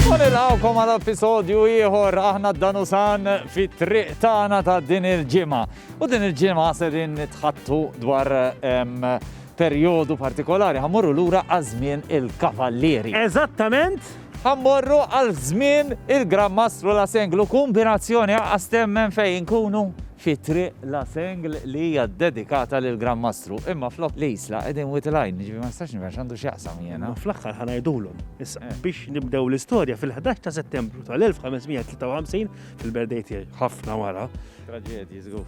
U nilqawkom għal episodju ieħor aħna d-danu san fit-triq tagħna ta' din il-ġimgħa. U din il-ġimgħa se din nitħattu dwar perjodu partikolari ħammorru lura għaż-żmien il-kavallieri. Eżattament! Ħammorru għal żmien il-Gran Mastru la Senglu kombinazzjoni għastemmen fejn inkunu fi Triq La Sengl li hija ddedikata lill-Gran Mastru, imma flok l-Isla qegħdin Wied il-Għajn, jiġifieri ma nistax nifhem x'għandu x'jaqsam jiena. Imma fl-aħħar ħa ngħidulhom. Issa, biex nibdew l-istorja, fil-ħdax ta' Settembru tal-1553, fil-birthday tiegħi, ħafna wara, Traġedji żgur.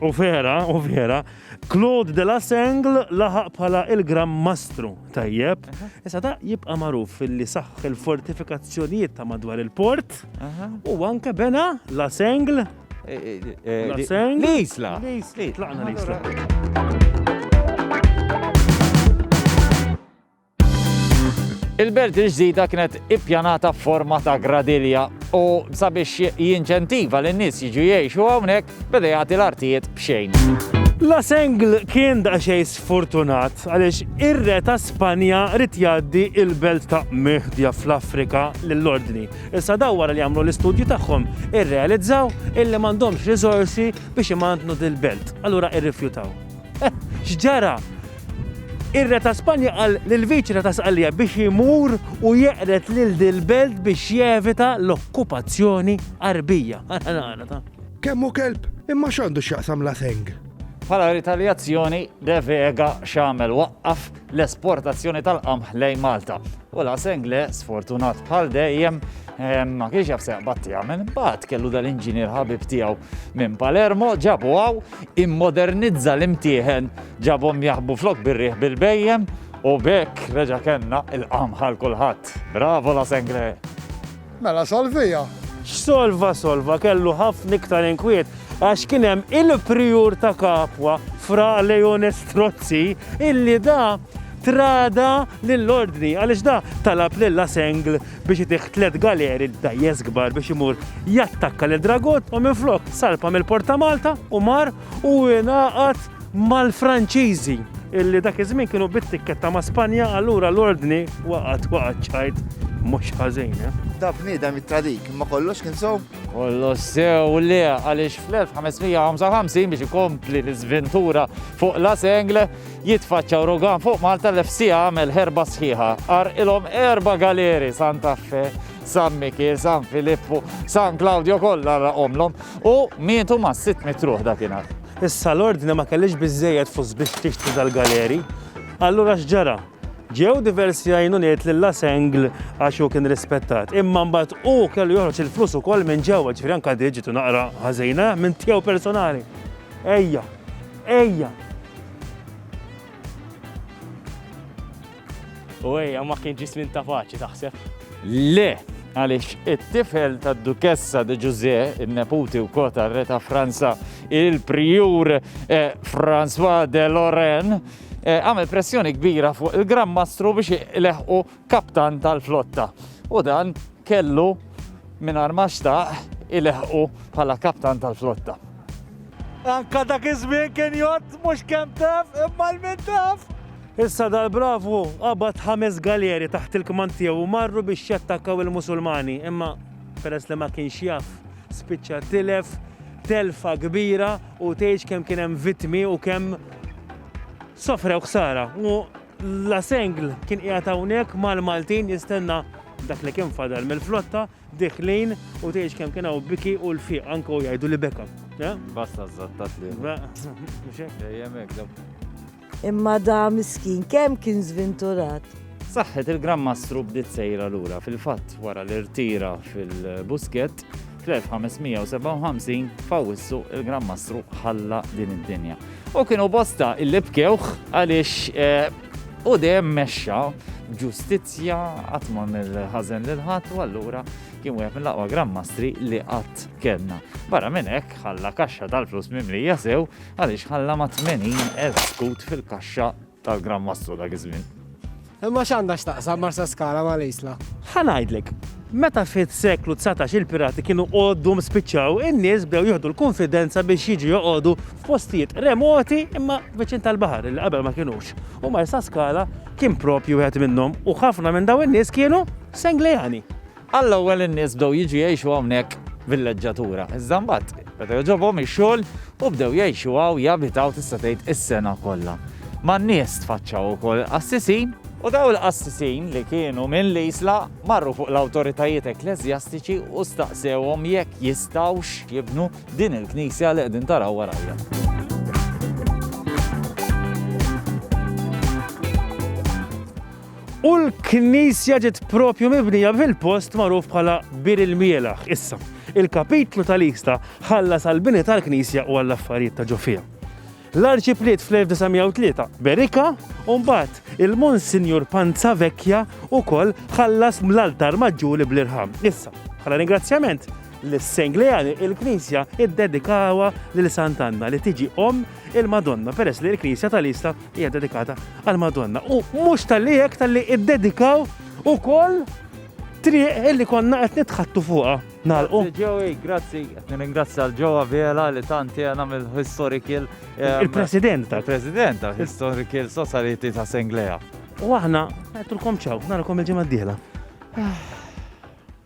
u vera, u vera, Claude de La Sengl laħaq bħala il-Gran Mastru, tajjeb. Issa da jibqa' magħruf li saħħ il-fortifikazzjonijiet ta' madwar il-port Aha. u anke bena La Sengl L-isla. Tlaqna l-isla. Il-belt il-ġdida kienet ippjanata forma ta' gradilja u sabiex jinċentiva l nies jiġu jgħixu hawnhekk beda jagħti l-artijiet b'xejn. La Sengl kien daqsxejn sfortunat għaliex ir-re ta' Spanja rid jgħaddi il-belt ta' Mehdja fl-Afrika lill-ordni. Issa dawn wara li għamlu l-istudju tagħhom irrealizzaw illi m'għandhomx riżorsi biex imantnu dil-belt. Allura irrifjutaw. Eh! X'ġara? Ir-Re ta' Spanja qal lill-Viċi-Re ta' Sqallija biex imur u jeqred lil dil-belt biex jevita l-okkupazzjoni Għarbija. Kemm hu kelb! Imma x'għandu x'jaqsam l-Aseng? Bħala ritalijazzjoni, De Vega x'għamel? Waqqaf l-esportazzjoni tal-qamħ lejn Malta. U la Sengle, sfortunat bħal dejjem, ehm, ma kienx jaf seqbad tiegħu minn bat kellu dal-inġinier ħabib tiegħu minn Palermo, ġabu għaw, immodernizza l-imtieħen, ġabhom jaħbu flok birriħ bil-bejjem, u bekk reġa kenna il-qamħal kulħadd. Bravo la Sengle! Mela solviha! X'solva solva, kellu ħafna iktar inkwiet għax kien hemm il-prijur ta' Capua, Fra Leone Strozzi, illi da trada lill-Ordni għaliex da talab lil La Sengle biex itih tliet galeri dgħajjes kbar biex imur jattakka lil Dragut u minflok salpa mill-Port ta' Malta u mar u ingħaqad mal-Franċiżi, illi dak iż-żmien kienu bit-tikketta ma' Spanja, allura l-ordni waqgħet waqgħet ċajt mhux ħażin, eh? Da bniedem it-tradik, imma kollox kien sew? Kollox sew le, għaliex fl-1555 biex ikompli l-iżventura fuq la sengle, jitfaċċa urugan fuq Malta l-FCA għamel ħerba sħiħa. Ar ilhom erba galeri Santa Fe, San Mikil, San Filippu, San Claudio kollha omlom u mietu ma' sitt mitruħ dakinhar. Issa l-Ordni ma kellhiex biżżejjed flus biex tixtri dal-galeri. Allura x'ġara? Ġew diversi għajnuniet lil La Sengl għax hu kien rispettat. Imma mbagħad hu kellu joħroġ il-flus ukoll minn ġewwa, ġifieri anke di ġitu naqra ħażina, eh, minn tiegħu personali. Ejja, ejja! U ejja ma kien ġismin ta' paċi taħseb? Le, għaliex it-tifel tad Dukessa de Ġużè, in-neputi wkoll tar-Re ta' Franza, il-Prijur eh, François de Lorraine, eh, għamel pressjoni kbira fuq il-Gran Mastru biex leħqu kaptan tal-flotta. U dan kellu minn armaxta il-leħqu bħala kaptan tal-flotta. Anka dak iż-żmien kien jgħod mhux kemm taf imma l-min taf. Issa dal-bravu qabad ħames galeri taħt il-kmand tiegħu u marru biex jattakkaw il-Musulmani, imma peress li ma kienx jaf, spiċċa tilef telfa kbira u tgħidx kemm kien hemm vittmi u kemm sofrew ħsara. U La Sengl kien qiegħed hawnhekk mal-Maltin jistenna dak li kien fadal mill-flotta, diħlin u tgħidx kemm kien hawn biki u l-fiq anke u jgħidu li beka. Basta żattat li. Dejjem hekk Imma da miskin kemm kien żvinturat! Saħħet il-Gran Mastru bdiet sejra lura. Fil-fatt, wara li rtira fil-Buskett, fl-1557 f'Awwissu il-Gran Mastru ħalla din id-dinja. U kienu bosta illi bkewh għaliex eh, u dejjem mexxa ġustizzja qatt ma mill-ħażen lil ħadd u allura kien wieħed mill-aqwa Gran Mastri li qatt kellna. Barra minn hekk ħalla kaxxa tal-flus mimlija sew Għaliex ħalla ma' 80,000 skut fil-kaxxa tal-Gran Mastru dak iż-żmien. Imma x'għandha x'taqsam Marsaskala ma' l-Isla? Ħa ngħidlek, meta fis-seklu dsatax il-pirati kienu għoddhom spiċċaw, in-nies bdew jieħdu l-kunfidenza biex jiġu joqogħdu f'postijiet remoti imma viċin tal-baħar li qabel ma kinux. U Marsaskala kien proprju wieħed minnhom u ħafna minn dawn in-nies kienu Senglejani. Għall-ewwel in-nies bdew jiġu jgħixu hawnhekk villeġġatura, iżda mbagħad beda jogħġobhom ix-xogħol u bdew jgħixu hawn, jabitaw tista' tgħid is-sena kollha. Man-nies tfaċċaw ukoll qassisin, u dawn il-qassisin li kienu minn l-Isla marru fuq l-awtoritajiet ekkleżjastiċi u staqsewhom jekk jistgħux jibnu din il-knisja li qegħdin taraw warajja. U l-knisja ġiet propju mibnija fil-post magħruf bħala Bir il-Mielaħ. Issa, il-kapitlu tal-Ixta ħallas għall-bini tal-knisja u għall-affarijiet ta' ġo fiha. L-Arċipliet fl-1903 Berika u mbagħad il-Monsinjur Panza Vecchia wkoll ħallas ml-altar maġġuri bl-irħam. Issa, bħala ringrazzjament, l-Senglejani il-Knisja iddedikawa lil Sant'Anna li tiġi om il-Madonna peress li l-Knisja tal-Ista Hija dedikata għal Madonna u mhux tal-li hekk tal-li iddedikaw ukoll triq illi konna qed nitħattu fuqha. Nalqu. Ġewi, grazzi, qed nirringrazzja l-ġewwa Vela li tanti għana mill-Historical. Ehm, Il-President tal. President tal-Historical Society ta' Senglea. U aħna, għettulkom ċaw, narakom il-ġimgħa d-dieħla. Ah.